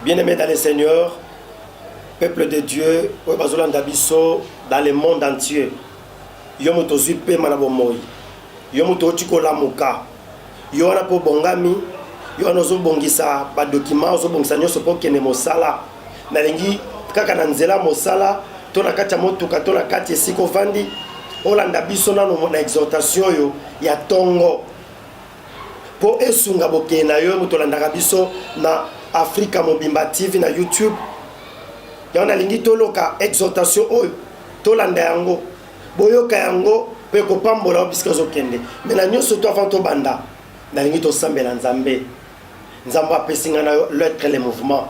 Bien aimé dans le Seigneur, peuple de Dieu, oyo bazolanda biso dans le monde entier, yo moto ozwi mpema na bomoi, yo moto oti kolamuka, yo wana mpo obongami, yo wana ozobongisa badokima, ozobongisa nyonso mpo okende mosala. Nalingi kaka na nzela mosala to na kati ya motuka to na kati esika ovandi olanda biso nano na exhortation oyo ya ntongo mpo esunga bokei na yo moto olandaka biso na afrika mobimba tv na youtube yango nalingi toloka exhortation oyo tolanda yango boyoka yango mpe kopambola yo bisika ozokende me na nyonso to avant tobanda nalingi tosambela nzambe nzambe apesi ngai na yo lettre le mouvement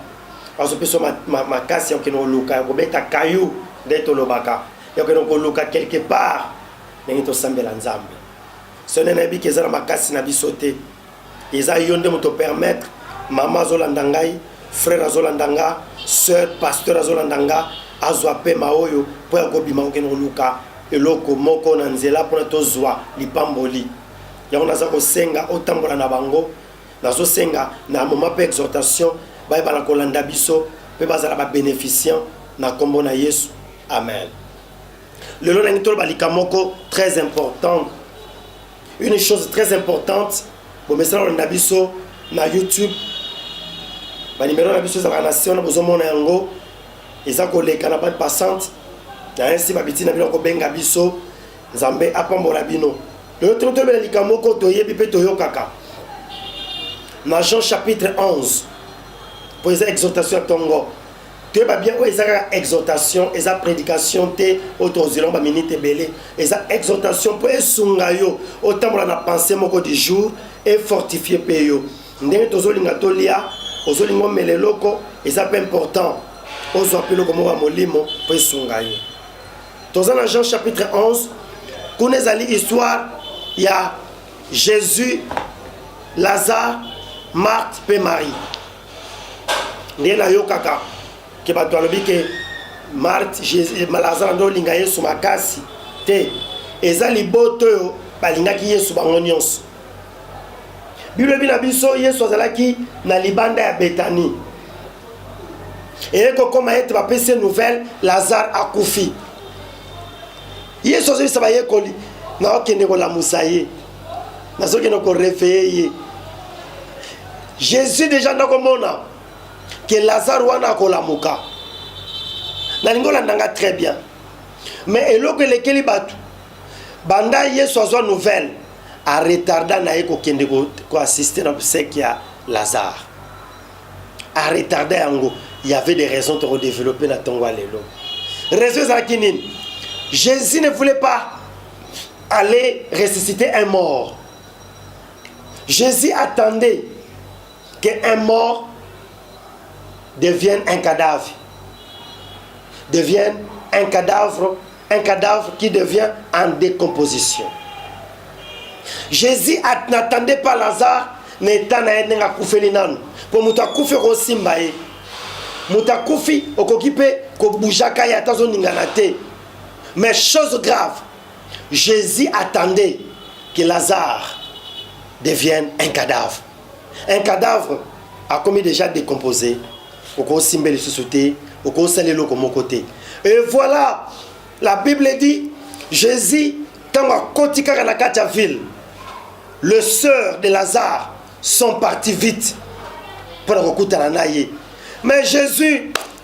azopesa makasi ya kokende koluka ya kobeta kayu nde tolobaka ya kokende koluka quelque part ndenge tosambela nzambe Sonia nayebi ke eza na makasi na biso te eza yo nde moto permettre mama azolanda ngai frère azolanda nga sœur pasteur azolanda nga azwa pema oyo mpo ya kobima kokende koluka eloko moko na nzela mpona tozwa lipamboli yango naza kosenga otambola na bango nazosenga na moma mpe exhortation bayeba na kolanda biso mpe bazala babeneficiant na nkombo na yesu amen lelo nangi toloba likambo moko très important une chose très importante bomesana kolanda biso na youtube banimero na biso ezalaka na se wana bozomona yango eza koleka na bande passante nayansi babiti na bino akobenga biso nzambe apambola bino lelo toko tobela likambo moko toyebi mpe toyokaka na jean chapitre 11 mpo eza exhortation ya ntongo toyeba bien oyo eza kaka exhortation eza prédication te oyo tokozela ba minute ebele eza exhortation mpo esunga yo otambola na pensée moko du jour efortifie mpe yo ndenge tozolinga tolia ozolinga omela eloko eza mpe important ozwa mpe eloko moko ya molimo mpo esunga yo toza na jean chapitre 11 kuna ezali histoire ya jésus lazare marthe mpe marie nde nayokaka ke bato alobi ke marte eh, lazare nde olinga yesu makasi te eza liboto oyo balingaki yesu bango nyonso biblia ebi na biso yesu azalaki na libanda ya betani eye kokoma ete bapesi ye nouvelle lazare akufi yesu azongisa bayekoli na okende kolamusa ye nazokende korefeye ye jésus deja nakomona ke lazare wana akolamuka nalingi olanda nga très bien mais eloko elekeli bato banda yesu azwa nouvelle aretarda na ye kokende koassiste na boseki ya lazare aretarda yango y avait des raisons tokodeveloppe na ntongo ya lelo raison ezalaki nini jésus ne voulait pas allait ressusciter un mort. Jésus attendait qu'un mort devienne un cadavre. Devienne un cadavre, un cadavre qui devient en décomposition. Jésus n'attendait pas Lazare na eta na ye ndenge akufeli nanu mpo moto akufi okosimba ye moto akufi okoki mpe kobujaka ye ata ozoningana te mais chose grave Jesus attendait que Lazare devienne un cadavre. Un cadavre a commis déjà décomposé. okosimba lisusu te okosala eloko moko te et voilà la bible dit jésus ntango akoti kaka na kati ya ville le sœur de lazare sont parti vite mpo na kokutana na ye mais jésus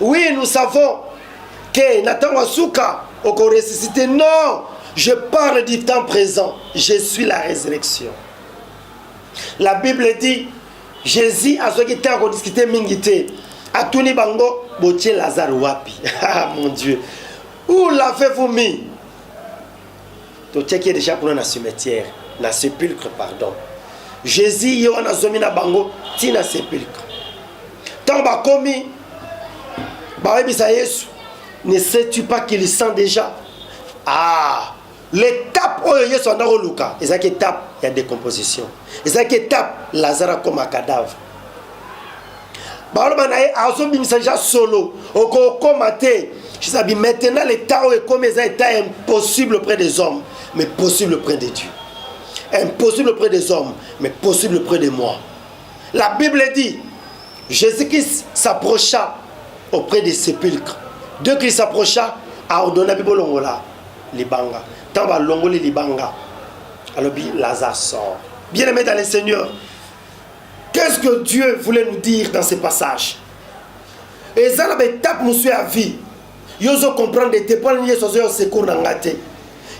Oui, nous savons que na ntango ya suka okoresisite. Non, je parle du temps présent. Je suis la résurrection. La Bible dit, Jésus azwaki ntango kodiskite mingi te. Atuni bango, botie Lazare wapi? ah mon Dieu. Où l'avez-vous mis? totiaki ye deja kuna na cimetière na sépulcre pardon jésus ye wana azomi na bango ti na sépulcre ntango bakomi bayebisa yesu ne sais-tu pas qu'il sent déjà ah l'étape oyo yesu anda koluka ezalaki étape ya décomposition ezalaki étape lazare akoma cadavre baloba na ye azobimisa ja solo okokoma te jisabi maintenant leta oyo ekomi eza etat ya impossible près des hommes mais possible près de dieu impossible près des hommes mais possible près de moi la bible dit jésus-christ s'approcha auprès des sépulcres de christ s'approcha aordonna bibolongola libanga ntango balongoli libanga alobi lazare sort bien aimé dans le seigneur Qu'est-ce que Dieu voulait nous dire dans ce passage eza na baetape mosusu ya vie yo ozo comprendre ete mpo nini yesu azoya secour na ngai te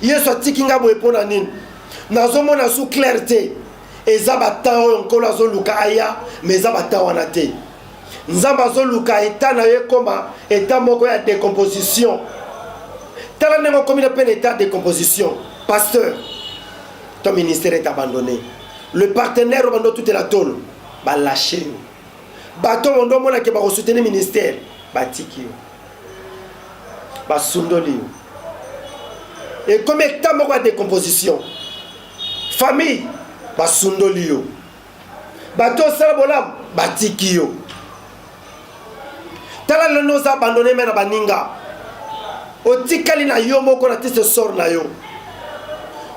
yesu atiki ngai boye mpo na nini nazomona su claire te eza batemp oyo nkolo azoluka aya ma eza batemp wana te nzambe azoluka eta na yo ekoma eta moko ya decomposition tala ndenge okomi na mpe na eta ya decomposition pasteur ton ministère est abandonné le partenaire obanda otutela tolo balashe yo bato oyo ndo omonake bakosuteni ministère batiki yo basundoli yo ekomi eta moko ya decomposition famille basundoli yo bato osala bolamu batiki yo tala lelo nde oza abandone me na baninga otikali na yo moko na tiste sor na yo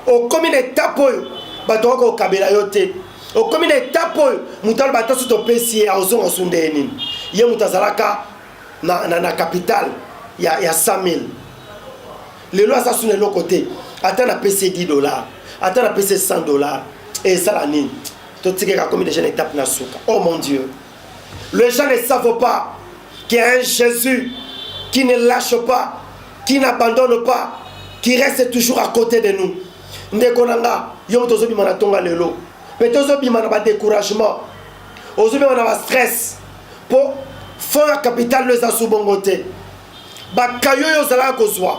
okomi na etape oyo bato okoki kokabela yo te okomi na etape oyo moto aloba ata soki topesi ye aozonga osunda ye nini ye moto azalaka na, na, na capital ya, ya 100 000 lelo aza suna eloko te ata napesi ye 10 dollar ata napesi ye 100 dollar esala nini totikaka komi deja na etape na suka oh mon dieu Les gens ne savent pas qu'il y a un Jésus qui ne lâche pas, qui n'abandonne pas, qui reste toujours à côté de nous. ndeko na nga yo moto ozobima na ntonga lelo mpe te ozobima na badécouragement ozobima na bastress mpo fond ya capital no eza su bongo te bakayo oyo ozalaka kozwa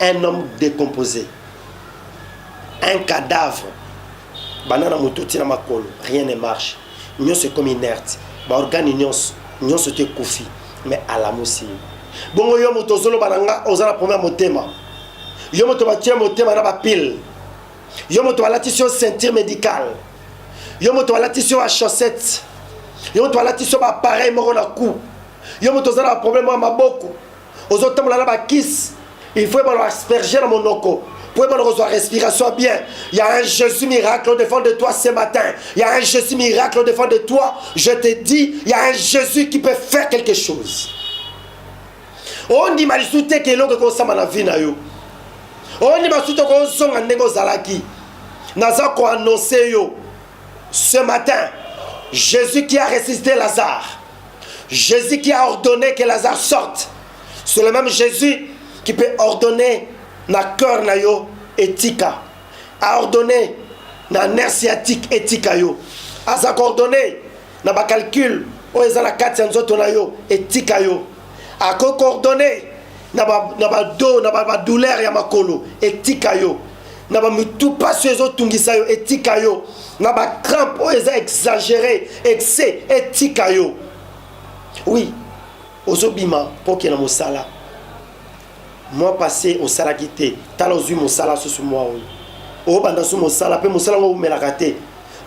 un homme décomposé un cadavre banda na motu ti na makolo rien ne marche nyonso ekomi inerte baorgane nyonso nyonso te ekufi mais alamusi ye bongo yo moto ozoloba na nga oza na problème ya motema yo moto batie motema na bapile yo moto balatisi yo ceinture médicale yo moto balatisi yo bachaussette yo moto balatisi yo baappareil moko na cou yo moto oza na baproblème ya maboko ozo tambola na ba kiss il faut ebala asperger na monoko po ebala kozwa respiration bien il y a un Jésus miracle au devant de toi ce matin il y a un Jésus miracle au devant de toi je te dis il y a un Jésus qui peut faire quelque chose ondima lisusu te ke eloko ekosama na vie na yo ondima lisusu te kozonga ndenge ozalaki naza koannonce yo ce matin Jésus qui a ressuscité Lazare Jésus qui a ordonné que Lazare sorte, c'est le même Jésus qui peut ordonner na cœur na yo etika, a ordonné na nerf sciatique etika yo, aza coordonné na ba calcul oyo eza na kati ya nzoto na yo etika yo, ako coordonné na ba na ba do na ba, ba douleur ya makolo etika yo. na bamitu mpasi oyo ezotungisa yo etika yo na bacrampe oyo eza exagere excès etika yo oui ozobima mpo okenda mosala mwa passe osalaki te tala ozwi mosala susu mwa oyo obanda su mosala mpe mosala yango oumelaka te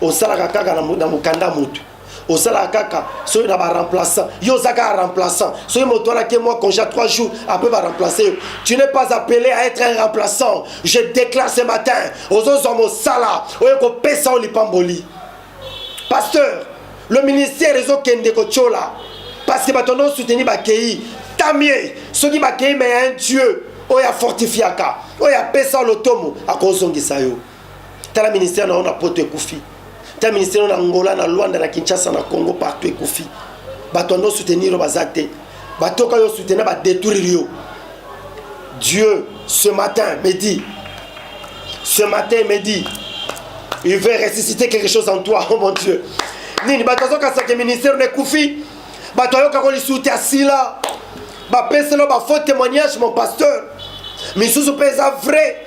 osalaka kaka na mokanda motu osalaka kaka soki na baremplaçant yo oza kaka remplaçant soki moto wana ke mwa congé ya 3 jours apres baremplace yo tu n'es pas appelé à être un remplaçant je déclare ce matin ozozwa mosala oyo ekopesa yo lipamboli pasteur le ministère ezokende kotyola parce que bato yango soutenir bakei tamie soki bakei me ya un dieu oyo afortifiaka oyo apesa lotomo akozongisa yo tala ministère na yo na poto ekufi tala ministère na ngola na lwanda na kinshasa na congo partout ekufi bato ando soutenir yo baza te batoka yo soutenir badétruire yo dieu ce matin me dit ce matin me dit il veut ressusciter quelque chose en toi oh mon dieu nini bato azokasake ministère na ekufi bato ayoka kolisuti asila bapeselo bafaux témoignage mon pasteur misusu mpe eza vrai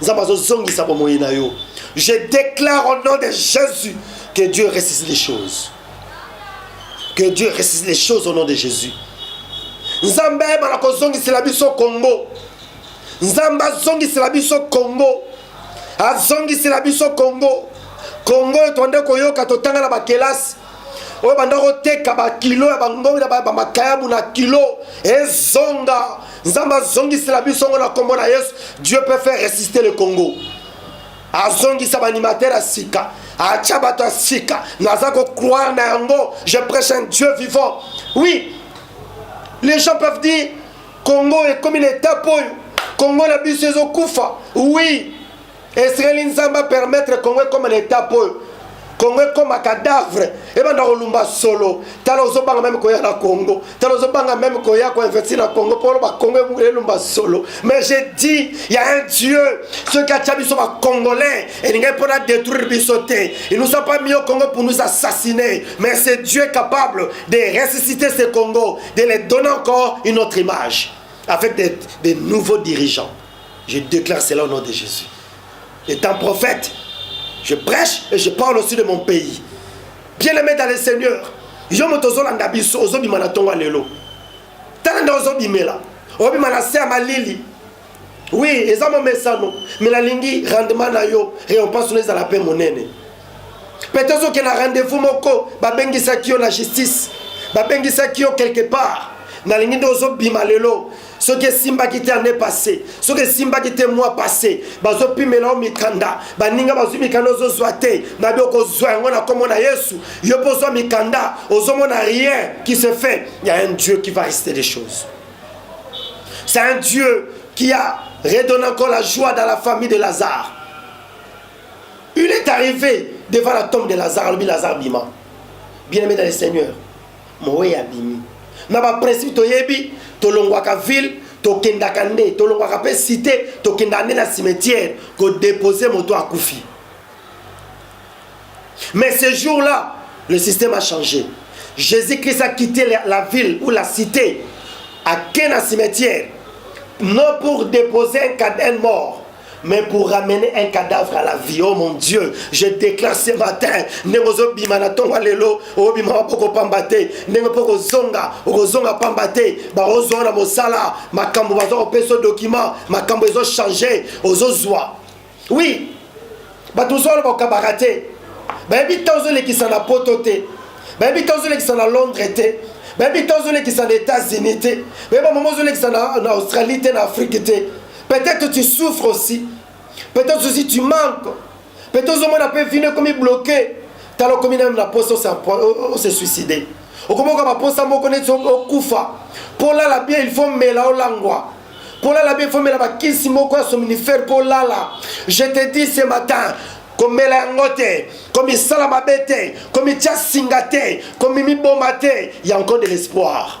nzambe azozongisa bomoi na yo je déclare au nom de jésus que dieu ressuscite les choses que dieu ressuscite les choses au nom de jésus nzambe ayebana kozongisela biso congo nzambe azongisela biso congo azongisela biso congo congo oyo twande koyoka totanga na bakelasi oyo banda koteka bakilo ya bangongi na bamakayabu na kilo ezonga nzambe azongisela biso ngo na nkombo na yesu dieu peut faire resiste le congo azongisa baanimatere ya sika atya bato ya sika naza kocroire na yango je prêche un dieu vivant oui les gens peuvent dire congo ekomi na etape oyo congo na biso ezokufa oui Esengeli Nzambe a permettre Congo ekoma na etat oyo. Congo ekoma cadavre ebanda kolumba solo. Tala ozobanga meme koya na Congo. Tala ozobanga meme koya ko investir na Congo pour ba Congo elumba solo. Mais j'ai dit il y a un Dieu ceux qui a tchabi sont ba Congolais et linga pour la détruire bisoté. Ils nous ont pas mis au Congo pour nous assassiner. Mais c'est Dieu capable de ressusciter ce Congo, de les donner encore une autre image avec des, des nouveaux dirigeants. Je déclare cela au nom de Jésus. Étant prophète, je prêche et je parle aussi de mon pays. Bien-aimé dans le Seigneur, yo moto ozolanda biso ozobima na ntongo ya lelo tala nde ozobimela obima na se ya malili wi eza momesano me nalingi rendement na yo récompense no ezala mpe monene mpe tozoke na rendez-vous moko babengisaki yo na justice babengisaki yo quelque part nalingi nde ozobima lelo soki esimbaki te année passé soki esimbaki te mois passé bazopimela yo mikanda baninga bazwi mikanda ozozwa te nabi okozwa yango na nkombo na yesu yo mpo ozwa mikanda ozomona rien qui se fait il y a un dieu qui va rester les choses c'est un dieu qui a redonné encore la joie dans la famille de lazare il est arrivé devant la tombe de lazare alobi lazare bima bien aimé dans le seigneur moweyi abimi na baprincipe toyebi tolongwaka ville tokendaka nde tolongwaka mpe cité tokendaka nde na cimetière kodepose moto akufi mais ce jour là le système a changé jésus christ a quitté la ville ou la cité ake na cimetière non pour déposer un cadin mort mais pour ramener un cadavre à la vie oh mon dieu je déclare ce matin ndenge ozobima na ntongo ya lelo obima mapoko pamba te ndenge mpo kozonga okozonga pamba te bakozwa na mosala makambo baza kopesa document makambo ezochange ozozwa oui bato mosusu wana bakabaka te bayebi ntango ozolekisa na poto te bayebi ntango ozolekisa na londres te bayebi ntango ozolekisa na états-unis te bayebi bamama ozolekisa na australie te na afrique te Peut-être tu souffres aussi. Peut-être aussi tu manques. Peut-être ozomona pe vino ekomi bloqué. Tala okomi nanu na posa ose suicide. Okomi okoka baposa moko neti okufa. Mpo olala bien il faut mela olangwa. Mpo olala bien il faut mela bakisi moko ya somnifère mpo olala. Je te dis ce matin, komela yango te komisala mabe te komitya singa te komimiboma te ya nko de l'espoir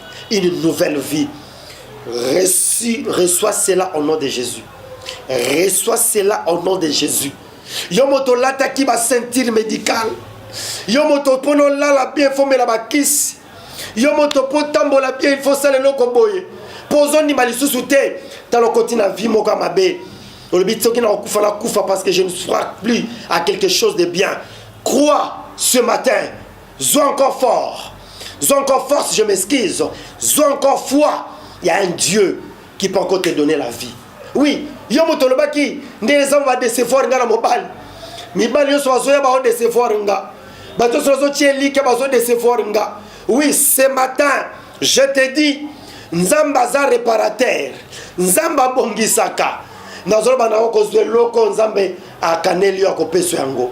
une nouvelle vie. Reçu, reçois cela au nom de Jésus. Reçois cela au nom de Jésus. Yo moto lataki ba ceinture médicale. Yo moto pono lala bien faut mela ba kiss. Yo moto po tambola bien il faut sala eloko boye. Pozo ni malisusu te. Talo koti na vie moka mabe. Olobi soki na kufa na kufa parce que je ne crois plus à quelque chose de bien. Crois ce matin zwa encore fort zwa encore force je m'excuse zwa encore foi ya un dieu qui peut encore te donner la vie oui yo moto olobaki nde eza badecevoir nga na mobali mibali nyonso bazoya baodecevoir nga bato nyonso bazotia elike bazodecevoir nga oui ce matin je te dis nzambe aza reparateur nzambe abongisaka nazoloba nango kozwa eloko nzambe akaneli yo akopesa yango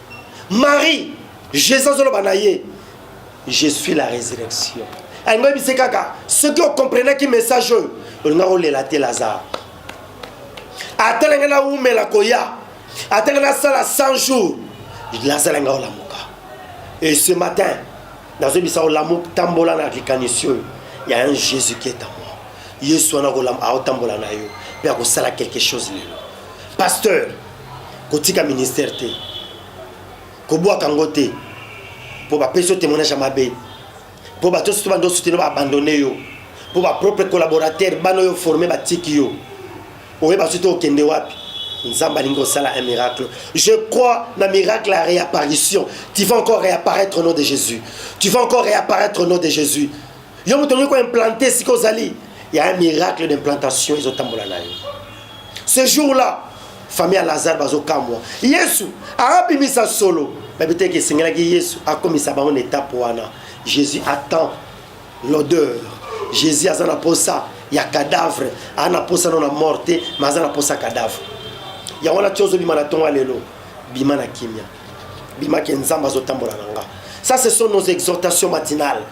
marie jésus azoloba na ye je suis la résurrection alingi oyebise kaka soki okomprenaki message oyo olinga kolela te lazare ata ndenge nawumela koya ata ndenge nasala 100 jours lazare alinga olamuka et ce matin nazoyebisa olamuka tambola na likanisi oyo ya un jésus qui est à moi yesu wana aotambola na yo mpe akosala quelque chose lelo pasteur kotika ministère te kobwaka yango te mpo bapesi yo témoignage ya mabe mpo bato nyonso to bando sutino baabandone yo mpo bapropre collaborateur bana oyo forme batiki yo oyeba soki te okende wapi nzambe alingi kosala un miracle je crois na miracle ya réapparition tu vas encore réapparaître au nom de jésus tu vas encore réapparaître au nom de jésus yo moto olingi koimplante sika ozali ya un miracle d'implantation ezotambola na yo ce jour là famille ya lazare bazokamwa yesu abimisa solo bayebi te eke esengelaki yesu akomisa bango na etape wana jésus attend l'odeur jésus aza na mposa ya cadavre aza na mposa no na mort te ma aza na mposa cadavre yango wana ti ozobima na ntongo ya lelo bima na kimia bima ke nzambe azotambola na nga ça ce sont nos exhortations matinales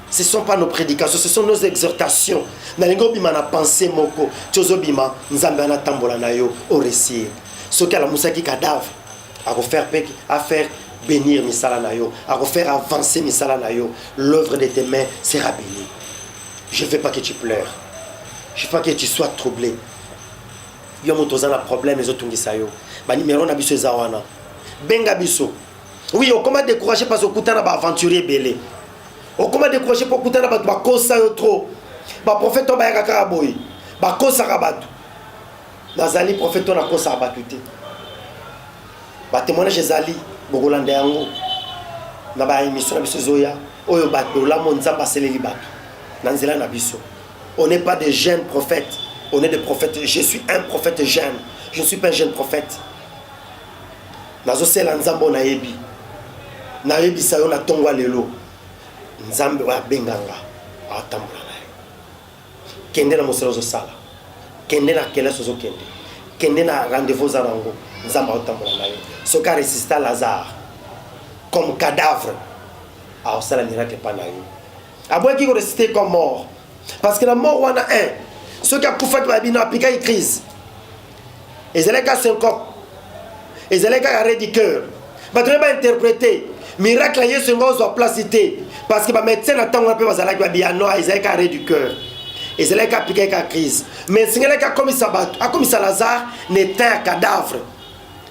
ce sont pas nos prédications ce sont nos exhortations nalingi obima na pensée moko ti ozobima nzambe wana atambola na yo oresir soki alamusaki cadavre akofaire mpe afaire bénir misala na yo akofaire avancer misala na yo l'œuvre de tes mains sera bénie je veux pas que tu pleures je veux pas que tu sois troublé yo moto oza na problème ezotungisa yo banimero na biso eza wana benga biso Oui, okoma décourager parce que okuta na ba aventurier belé. Okoma décourager pour okuta na bato bakosa yo trop. Ba prophète to bayaka kaka boye. Bakosa ka bato. Nazali prophète to na kosa bato te. Ba témoignage ezali bokolanda yango na ba émission na biso zoya oyo bato olamo nzambe aseleli bato na nzela na biso. On n'est pas des jeunes prophètes, on est des prophètes. Je suis un prophète jeune. Je ne suis pas un jeune prophète. nazosela nzambe oyo nayebi nayebisa yo na ntongo ya lelo nzambe oyo abenganga atambola na yo kende na mosala ozosala kende na kelasi ozokende kende na rendez-vous oza na yango nzambe aotambola na yo soki aresista lazare comme cadavre aosala miracle epai na yo aboyaki koresiste comme mort parce que na mort wana 1 soki akufaki babino apikaki crise ezalaki kaka senkop ezalaki kaka redi cœur bato nde bainterprete miracle ya yesu enga ozwa place te parce que bamédecin na ntango wana mpe bazalaki babiya no ezalaki kaka redi cœur ezalaki apikaki kaka crise mais esengelaki akomisa bato akomisa lazare na etat ya cadavre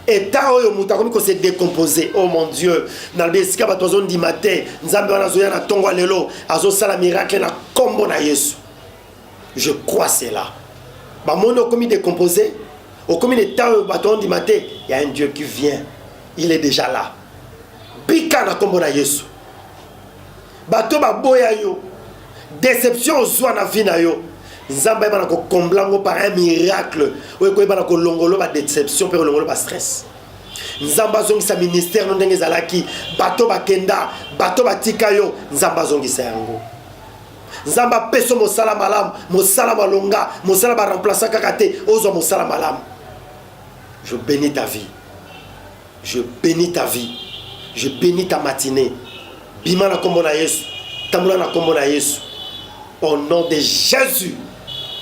etat oyo moto akomi kose décompose o oh mon dieu nalobi esika bato azondima te nzambe wana azoya na ntongo ya lelo azosala miracle na nkombo na yesu je crois cela bamoni okomi décompose okomi ne temps oyo bato ondima te ya un dieu qui vient il est déjà là bika na nkombo na yesu bato baboya yo déception ozwa na vie na yo nzambe ayebana kokombla yango par un miracle oyo ekoyebana kolongolo badéception mpe kolongolo bastress nzambe azongisa ministère no ndenge ezalaki bato bakenda bato batika yo nzambe azongisa yango nzambe apeso mosala malamu mosala malonga mosala baremplaçant kaka te ozwa mosala malamu je bénis ta vie je bénis ta vie je bénis ta matinée bima na nkombo na yesu tambola na nkombo na yesu au nom de jésus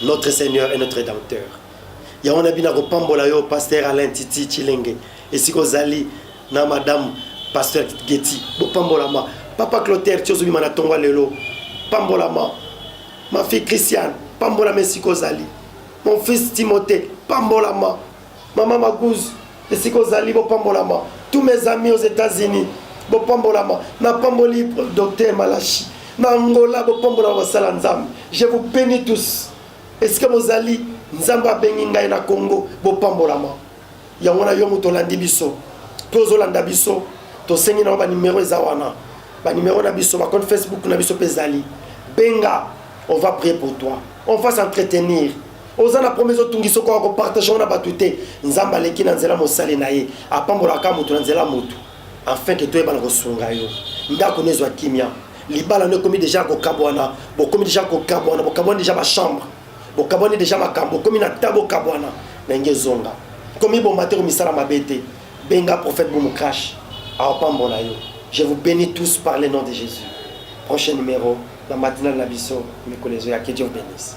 notre seigneur et notre rédempteur ya wana bina kopambola yo pasteur alain titi chilenge esika ozali na madame pasteur geti bopambolama papa clotaire ti ozobima na tongo lelo pambolama ma fille christiane pambolama esika ozali mon fils timothée pambolama mama magouze esika ozali bopambolama tous mes amis aux états-unis bopambolama napamboli docteur malashi na angola bopambolama basala nzambe je vous bénis tous Esika bozali, Nzambe abengi ngai na Congo. Bopambolama. Yango wana yo moto olandi biso mpe ozolanda biso, tosengi na yo banimero eza wana, banimero na biso, bakonte Facebook na biso mpe ezali. Benga, on va prier pour toi, on va s'entretenir oza na promese otungisa okoka kopartage yango na bato te nzambe aleki na nzela mosali na ye apambolaka moto na nzela moto afin que toyeba na kosunga yo ndako no ezwa kimia libala no ekomi deja kokabwana bokomi deja kokabwana bokabwani deja bachambre bokabwani deja makambo okomi na ta bokabwana na nge ezonga komibomba te komisala mabe te benga prophète boum crash aopambola yo je vous bénis tous par le nom de jésus prochain numéro na matinale na biso mikolo ezoya que dieu vous bénisse